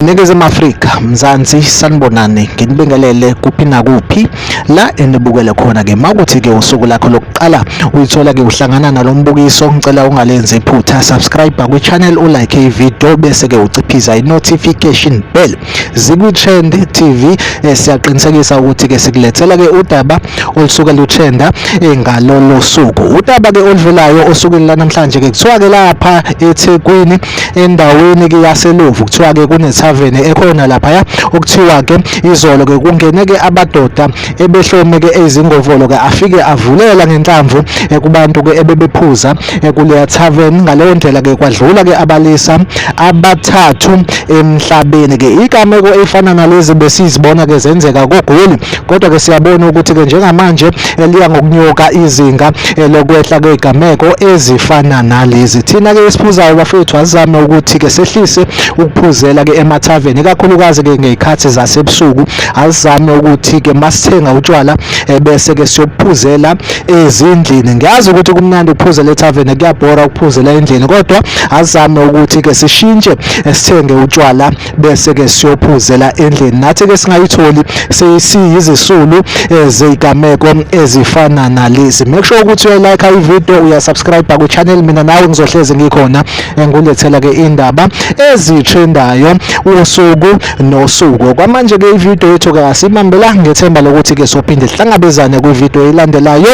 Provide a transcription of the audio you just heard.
Ningizimu Afrika, Mzansi sanibonani, nginibingelele kuphi nakuphi. la enibukele khona ke makuthi ke usuku lakho lokuqala uyithola ke uhlangana nalombukiso ngicela ungalenzi iphutha subscribe kwi channel u like i video bese ke uciphiza i notification bell zikwi trend tv eh, siyaqinisekisa ukuthi ke sikulethela ke udaba olusuke lutrenda eh, ngalolo suku udaba ke oluvelayo osukwini lanamhlanje ke kuthiwa ke lapha eThekwini endaweni-ke yaselovu kuthiwa-ke kunethaveni ekhona laphaya okuthiwa-ke izolo-ke kungene-ke amadoda ebehlome-ke ezingovolo-ke afike avulela ngenhlamvu kubantu-ke ebebephuza kuleya thaveni ngaleyo ndlela-ke kwadlula-ke abalisa abathathu emhlabeni-ke igameko efana nalezi besizibona-ke zenzeka kogoli Kodwa-ke siyabona ukuthi-ke njengamanje eh, liya ngokunyuka izinga eh, lokwehla kwey'gameko ezifana nalezi. Thina-ke esiphuzayo bafethu asizame ukuthi-ke sehlise ukuphuzela-ke emathaveni, ikakhulukazi-ke ngey'khathi zasebusuku. Asizame ukuthi-ke masithenga utshwala eh, bese-ke siyobuphuzela ezindlini. Ngiyazi ukuthi kumnandi ukuphuzela ethaveni, kuyabhora ukuphuzela endlini, kodwa asizame ukuthi-ke sishintshe sithenge utshwala bese ke siyophuzela endlini nathi ke singayitholi siyizisulu eh, zezigameko ezifana nalezi make sure ukuthi uyalike i video uyasubscribe ku channel mina nawe ngizohleze ngikhona eh, ngulethela ke indaba ezitrendayo usuku nosuku kwamanje ke i video yethu ke asimambela ngethemba lokuthi ke sophinde sihlangabezane kwi video elandelayo